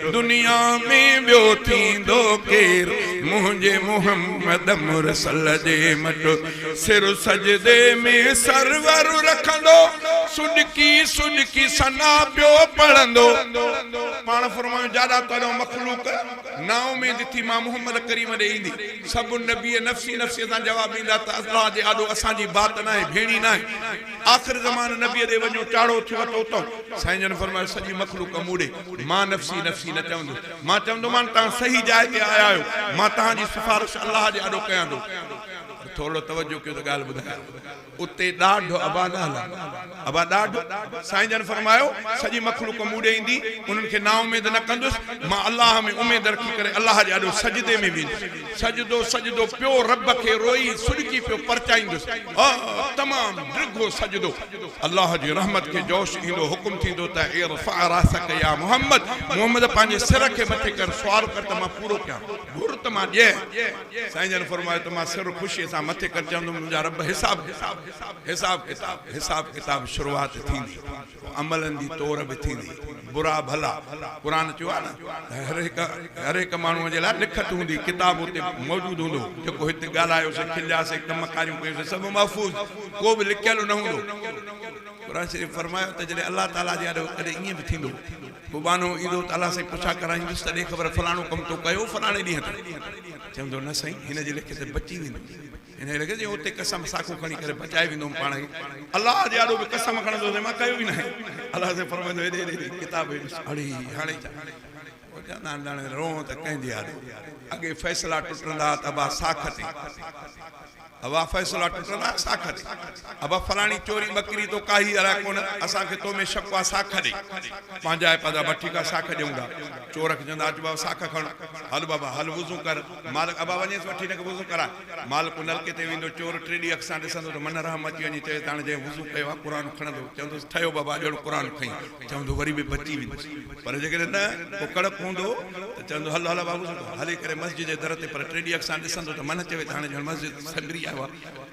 دنيا ۾ ٻيو ٿيندو ڪير منهنجي محمد مرسل جي مٽ سر سجدي ۾ سرور رکندو سڏڪي سڏڪي ثنا پيو پڙهندو پاڻ فرمايو جاڏا تاڏو مخلوق نااميد ٿي مان محمد ڪريم ڏي ايندي سڀ نبي نفسي نفسي سان جواب ڏيندا ته الله جي آڏو اسان جي بات ناهي ڀيڻي ناهي آخر زمان نبي ڏي وڃو چاڙهو ٿيو ته اتو سائين جن فرمايو سڄي مخلوق مون ڏي مان نفسي نفسي نه چوندس، مان چوندومان توهان صحيح جاء تي آيا آهيو، مان توهان جي سفارش الله جي آڏو ڪيان ٿو. پر ٿورڙو توجه ڪيو ته ڳالهه ٻڌايان. اتي ڏاڍ ابا نه هلندا. ابا ڏاڍ؟ سائين جن فرمايو، سڄي مخلوق مون ڏي ايندي، انهن کي نااميد نه ڪندس، مان الله ۾ اميد رکي ڪري الله جي آڏو سجدي ۾ ويندس، سجدو سجدو پيو رب کي روئي سڏڪي پيو پرچائيندس، آه! تمام ڊگهو سجدو. الله جي رحمت کي جوش ايندو حڪم ٿيندو ته ارفع راسڪ يا محمد، محمد پنهنجي سر کي مٿي ڪر، سوال ڪر ته مان پورو ڪيان، گهر ته مان ڏيان. سائين جن فرمايو ته مان سر خوشيء سان مٿي ڪري چوندم منهنجا رب حساب ڪتاب، حساب ڪتاب، حساب ڪتاب شروعات ٿيندي، پوء عملن جي تور به ٿيندي. برا ڀلا قرآن چيو آهي نه هر هڪ هر هڪ ماڻهو جي لاء لکت هوندي ڪتاب اتي موجود هوندو جيڪو هت ڳالهايو سي کليا سي ڪم ڪاريون ڪيون سي سڀ محفوظ ڪو به لڪيل نه هوندو قرآن شريف فرمايو ته جڏهن الله تعالي جي آڏو ڪڏهن ايئن به ٿيندو ڪو ٻانهو ايندو ته الله سائين پڇا ڪرائيندس ته ڏي خبر فلاڻو ڪم تو ڪيو فلاڻي ڏينهن تي چوندو نه سائين هن جي لکيت بچي ويندو انهيء لڳ جي اتي قسم ساکو کڻي ڪري بچائي ويندو هوم پاڻ کي الله جي آڏو به قسم کڻندو هوس ۽ مان ڪيو ئي ناهي الله سائين فرمائيندو هيڏي هيڏي هيڏي ڪتاب هيڏي ساڙهي هاڻي ڇا پوء چوندا آهن ڄڻ روئون ته ڪنهن جي آڏو اڳي فيصلا ٽٽندا ته ابا ساک تي ابا فيصلا ٽٽندا ساک تي ابا فلاڻي چوري ٻڪري تو ڪاهي الاء ڪونه اسان کي تو ۾ شڪ آ ساک ڏي پنهنجا ئي پدا بس ٺيڪ آ ساک ڏيون ٿا چور کي چوندا اچ بابا ساک کڻ هل بابا هل وضو ڪر مالڪ، ابا وڃيس وٺي هن کي وضو ڪراء. مالڪ نلڪي تي ويندو، چور ٽي ڏينهن اک سان ڏسندو ته منه رحم اچي وڃي، چويس ته هاڻي جنهن وضو ڪيو آهي قرآن کڻندو، چوندوس ٺهيو بابا اڄوڻو قرآن کڻي، چوندو وري به بچي ويندس، پر جيڪڏهن نه ڪو ڪڙڪ هوندو ته چوندو هل هل بابو سٺو، هلي ڪري مسجد جي در تي پر ٽي ڏينهن اک سان ڏسندو ته منه چوي ته هاڻي ڄڻ مسجد سنگري آيو آهي.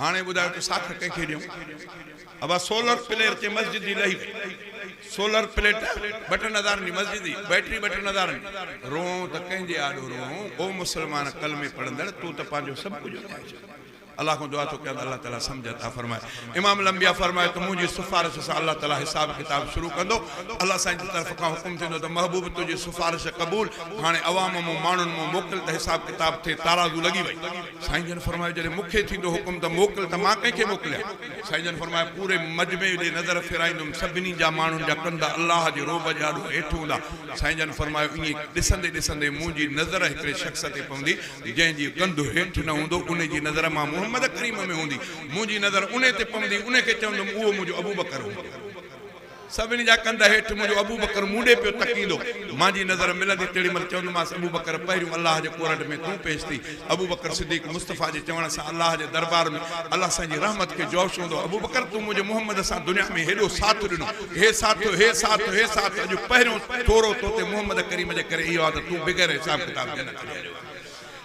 هاڻي ٻڌايو ته ساک ڪنهن کي ڏيون؟ ابا سولر پلير تي مسجد جي لهي وئي سولر پليٽ ٻٽن هزارن جي مسجد جي بيٽري ٻٽن هزارن جي روئون ته ڪنهن جي آڏو روئون او مسلمان ڪلمي پڙهندڙ تو ته پنهنجو سڀ ڪجهه وڃائي ڇڏيو الله کان دعا ٿو ڪيان ته الله تعالي سمجهه عطا فرمائي امام الانبياء فرمايو ته منهنجي سفارش سان الله تعالي حساب ڪتاب شروع ڪندو الله سائين جي طرف کان حڪم ٿيندو ته محبوب تنهنجي سفارش قبول هاڻي عوام مون ماڻهن مون موڪل ته حساب ڪتاب ٿئي تارازو لڳي وئي سائين جن فرمايو، جڏهن مون کي ٿيندو حڪم ته موڪل ته مان ڪنهن کي موڪليان؟ سائين جن فرمايو، پوري مجمعي ڏي نظر ڦيرائيندم، سڀني جا ماڻهن جا ڪنڌ الله جي رعب جي آڏو هيٺ هوندا. سائين جن فرمايو، ائين ڏسندي ڏسندي منهنجي نظر هڪڙي شخص تي پوندي، جنهن جي ڪنڌ هيٺ نه هوندو، انهي جي نظر مان محمد ڪريم ۾ هوندي، منهنجي نظر انهي تي پوندي، انهي کي چوندم، اهو منهنجو ابوبڪر هوندو. سڀني جا ڪنڌ هيٺ منهنجو ابوبڪر مون ڏي پيو تڪيندو. مانجي نظر ملندي تيڙي مهل چوندومانس ابوبڪر پهريون الله جي ڪورنڊ ۾ تون پيش ٿي. ابوبڪر صديق مصطفيٰ جي چوڻ سان الله جي دربار ۾ الله سائين جي رحمت کي جوش هوندو ابوبڪر تون منهنجي محمد سان دنيا ۾ هيڏو ساٿ ڏنو هي ساٿ هي ساٿ هي ساٿ اڄ پهريون ٿورو توتي محمد ڪريم جي ڪري اهو آ ته تون بغير حساب ڪتاب جنت ڏي آيو آهين.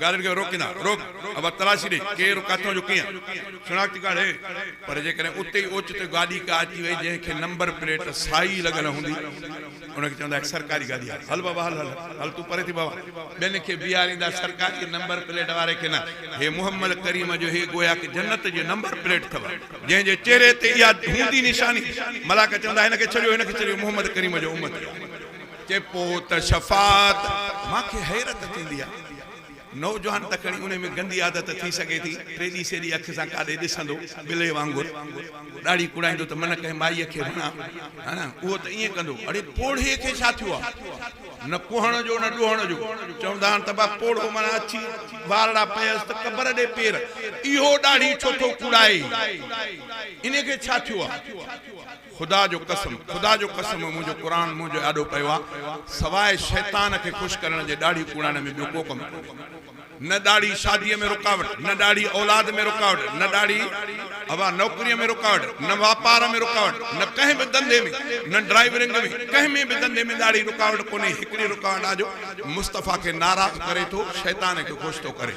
گاڏين کي روڪين ٿا، روڪ اڀا تلاشي ڏي، ڪير، ڪٿان جو، ڪيئن، شناختي ڪارڊ هي، پر جيڪڏهن اتي ئي اوچتو گاڏي ڪا اچي وئي جنهن کي نمبر پليٽ سائي لڳل هوندي ان کي چوندا هي سرڪاري گاڏي آهي، هل بابا هل هل هل تون پري ٿي بابا، ٻين کي بيهاريندا سرڪاري نمبر پليٽ واري کي نه، هي محمد ڪريم جو هي گوياڪ جنت جي نمبر پليٽ اٿئو جنهن جي چهري تي اها هوندي نشاني، ملاڪ چوندا هن کي ڇڏيو هن کي ڇڏيو محمد ڪريم جو امتي آهي. چئي پوت شفاعت مان کي حيرت ٿيندي آ نوجوان ته کڻي انهي ۾ گندي عادت ٿي سگهي ٿي ٽيڏي سيڏي اک سان ڪاڏي ڏسندو بلي وانگر ڏاڙهي ڪوڙائيندو ته من ڪنهن مائي کي وڻان هن اهو ته ائين ڪندو اڙي پوڙهي کي ڇا ٿيو آ نه ڪوهڻ جو نه ڏوهڻ جو چوندا آهن ته با پوڙهو معنيٰ اڇي وارڙا پيس ته قبر ڏي پير اهو ڏاڙهي ڇو ٿو ڪوڙائي انهي کي ڇا ٿيو آ. خدا جو قسم خدا جو قسم منهنجو قرآن منهن جو آڏو پيو آ سواء شيطان کي خوش ڪرڻ جي ڏاڙهي ڪوڙائڻ ۾ ٻيو ڪو ڪم ڪونهي نه ڏاڙهي شادي ۾ رڪاوٽ نه ڏاڙهي اولاد ۾ رڪاوٽ نه ڏاڙهي اوا نوڪري ۾ رڪاوٽ نه واپار ۾ رڪاوٽ نه ڪنهن به ڌنڌي ۾ نه ڊرائيورنگ ۾ ڪنهن ۾ به ڌنڌي ۾ ڏاڙهي رڪاوٽ ڪونهي هڪڙي رڪاوٽ آ جو مصطفيٰ کي ناراض ڪري ٿو شيطان کي خوش ٿو ڪري.